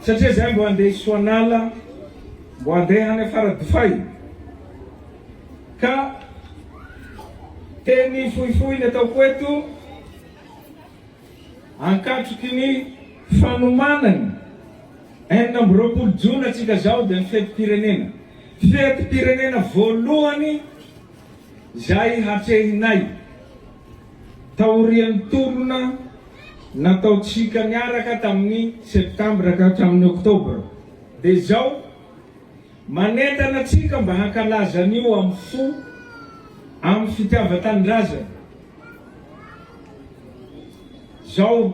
Satria zay mbo andeha hisoanala mbo andeha hany à Faradofay ka teny fohifohy ny ataoko eto ankatroky ny fanomanany enina amby roapolo jona tsika zao dia ny fetim-pirenena fetim-pirenena voalohany zay hatrehinay taorian'ny tolona nataontsika niaraka tamin'ny Septambra ka hatramin'ny Oktobra, dia izao, manentana antsika mba hankalaza an'io amin'ny fo amin'ny fitiavan-tanindrazana. Izao,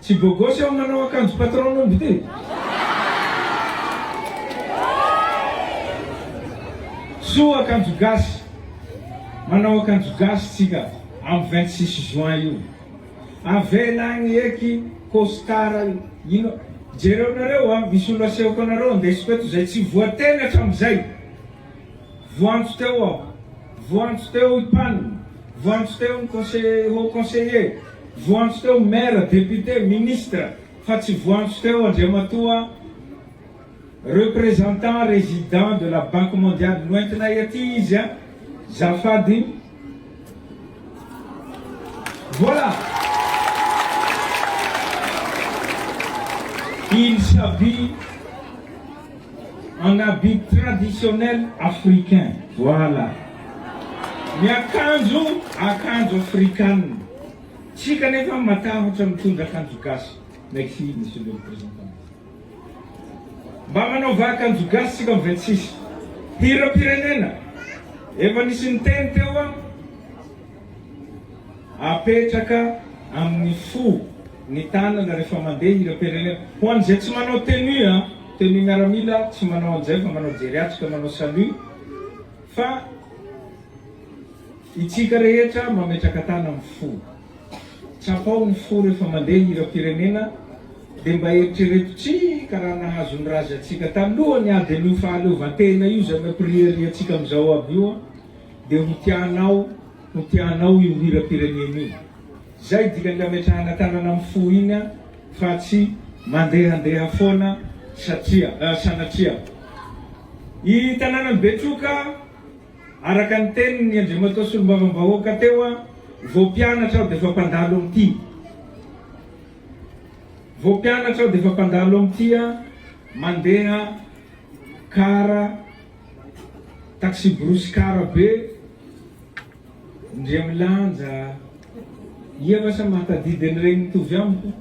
tsy bôgôsy aho manao akanjo patron-omby ity. Soa akanjo gasy, manao akanjo gasy tsika. Am vingt six juin io. Avela agny eky costard ino jereo nareo a misy olo asehoko anareo andesiko eto zay tsy voateny atramzay voantso teo aho voantso teo i pan voantso teo ny conseiller haut conseiller voantso teo maire député ministre fa tsy voantso teo andriamatoa Représentant résident de la banque mondiale noentinay aty izy a! Zafady! Voilà! Il s'habille en habit traditionnel africain. Voilà! Miakanjo akanjo afrikanina. Tsika anefa matahotra mitondra akanjo gasy. Merci Monsieur le Représentant. Mba manaova akanjo gasy tsika ve tsisy hiram-pirenena efa nisy niteny teo an! Apetraka amin'ny fo ny tanana rehefa mandeha hiram-pirenena ho an'izay tsy manao tenue an! Tenue miaramila tsy manao an'izay fa manao jery atrika manao salut fa itsika rehetra mametraka tana amin'ny fo. Tsapao ny fo rehefa mandeha hiram-pirenena dia mba eritrereto tsika raha nahazo ny razy antsika taloha ny ady an'io fahaleovantena io izay nampiriariantsika amin'izao aby io an! dia ho tianao ho tianao io hiram-pirenena io! Izay dikan'ny hametrahana tanana amin'ny fo iny an! fa tsy mandehandeha foana satria sanatria i tanànan'i Betroka Araka ny tenin'i Andriamatoa Solombavambahoaka teo, vao mpianatra aho dia efa mpandalo amin'ny tia. Vao mpianatra aho dia efa mpandalo amin'ny tia mandeha car, taxi-brousse car be, ndry milanja, ia va sa mahatadidy an'ireny mitovy amiko?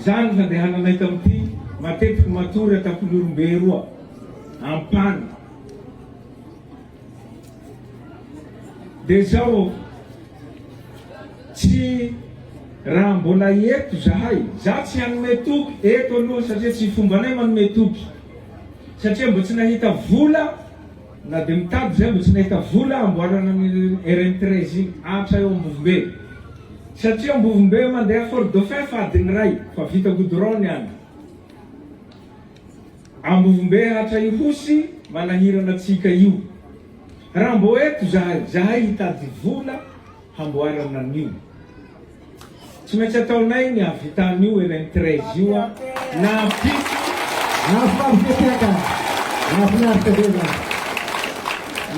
Zah no nandehananay tamin'ity matetiky matory an-tampolorombe roa ampana de zao tsy raha mbola eto zahay zah tsy hanome toky eto aloha satria tsy fombanay manome toky satria mbo tsy nahita vola Na dia mitady izay mba tsy nahita vola hamboarana an'iny RN treize iny Atra eo Ambovombe. Satria Ambovombe mandeha Fort Dauphin fa adiny iray fa vita goudron ny any. Ambovombe Atra Ihosy manahirana tsy hika io. Raha mbô eto zahay, zahay hitady vola. hamboarana an'io. Tsy maintsy ataonay ny hahavita an'io RN treize io an! Nahavit. Mahafinaritra be aka! Mahafinaritra be zany!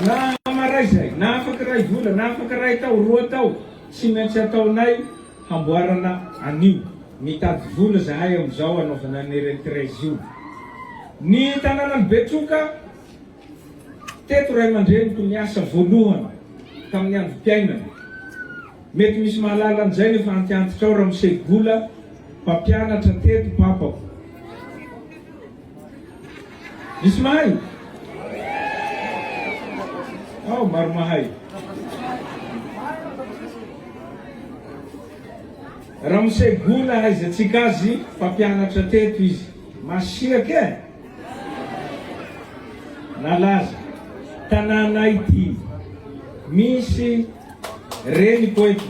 Na maray izay, na afaka iray vola, na afaka iray tao, roa tao, tsy maintsy ataonay hamboarana an'io. Mitady vola zahay amin'izao hanaovana ny RN treize io. Ny tanànan'i Betsoka. Teto ray aman-dreniko niasa voalohany tamin'ny androm-piainany. Mety misy mahalala an'izay nefa antiantitra ao Ramose Gola, mpampianatra teto papako. Misy mahay? Ao, maro mahay. Ramose Gola, ahaizatsika azy, mpampianatra teto izy. Masiaka e! Nalaza tanàna ity. Misy reniko eto.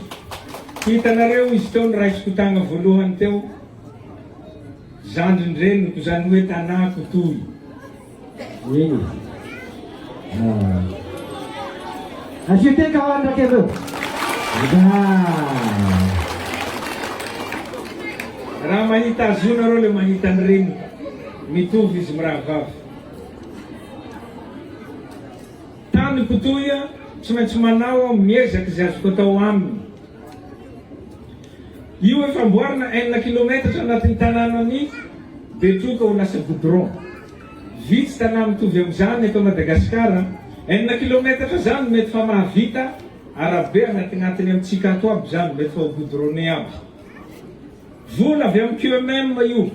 Hitanareo izy teo noraisiko tagna voalohany teo? Zandrin-dreniko, izany hoe tanàko toy. Eny. Asio teka ao ny raketo. Raha mahita azy io nareo le mahita ny reniny. Mitovy izy mirahavavy. Tany Kotoia, tsy maintsy manao aho miezaka izay azoko atao aminy. Io efa amboarina enina kilometatra anatin'ny tanànan'i Betroka ho lasa goudron. Vitsy tanà mitovy amin'izany eto Madagasikara. Enina kilometatra izany mety fa mahavita arabe anatinatiny amintsika ato aby izany, mety fa ho goudronné aby. Vola avy amin'ny QMM io.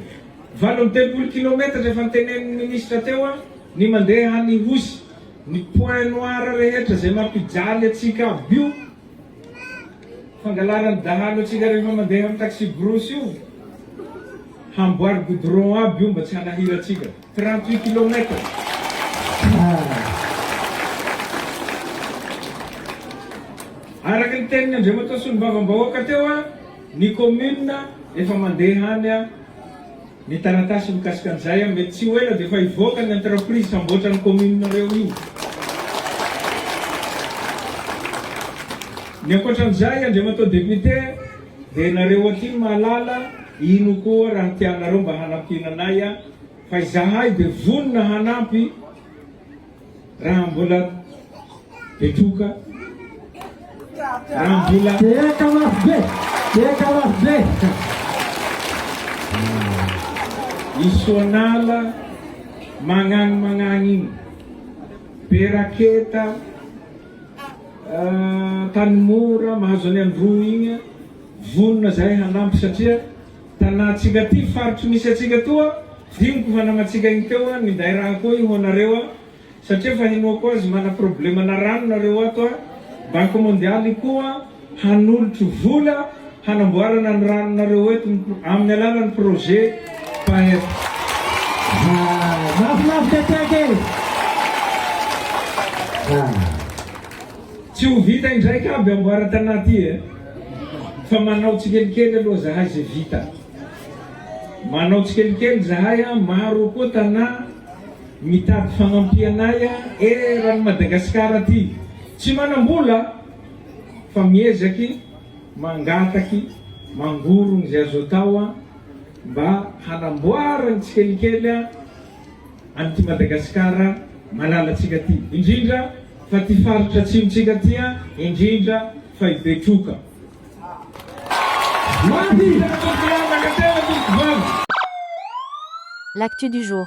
Valo amby telopolo kilometatra efa notenenin'ny ministra teo an, ny mandeha any Ihosy. Ny points noirs rehetra izay mampijaly antsika aby io Fangalaran'ny dahalo antsika rehefa mandeha amin'ny taxi-brousse io, hamboary goudron aby io mba tsy hanahira antsika. Trente huit kilomètre. Araka ny tenin'i Andriamatoa Solombavambahoaka teo, ny commune efa mandeha any Ny taratasy mikasika an'izay an, mety tsy ho ela dia efa hivoaka ny entreprise hamboatra ny commune-nareo io. Ny ankoatran'izay, Andriamatoa Député, dia ianareo aty no mahalala ino koa raha tianareo mba hanampiana anay an, fa izahay dia vonona hanampy. Raha mbola betroka, raha mbola. Dia eka lafo be, dia eka lafo be. I Sonala magnagny magnagny igny, be raketa, Tanimora mahazo an'i Androy igny, vonona zahay hanampy satria. Tanantsika ty faritry misy atsika toa diniko fa namatsika igny teo a minday raha koa i ho anareo a satria fa henoako azy mana problema na rano nareo ato a banky mondialy koa hanolotry vola hanamboarana ny rano nareo eto ny aminy alalany projet paep. Mahafinaritra tsake e! Tsy ho vita indraiky aby amboara Tana ty e! Fa manao tsikelikely aloha zahay ze vita. Manao tsikelikely zahay a, maro koa Tana mitady fagnampianay a, eran'i Madagasikara ty tsy manambola fa miezaky mangataky mangorogno ze azo atao a, mba hanamboaragny tsikelikely a. an'ity Madagasikara malalantsika ity, indrindra fa ity faritra Atsimontsika ity an, indrindra fa i Betroka. L'actu du jour.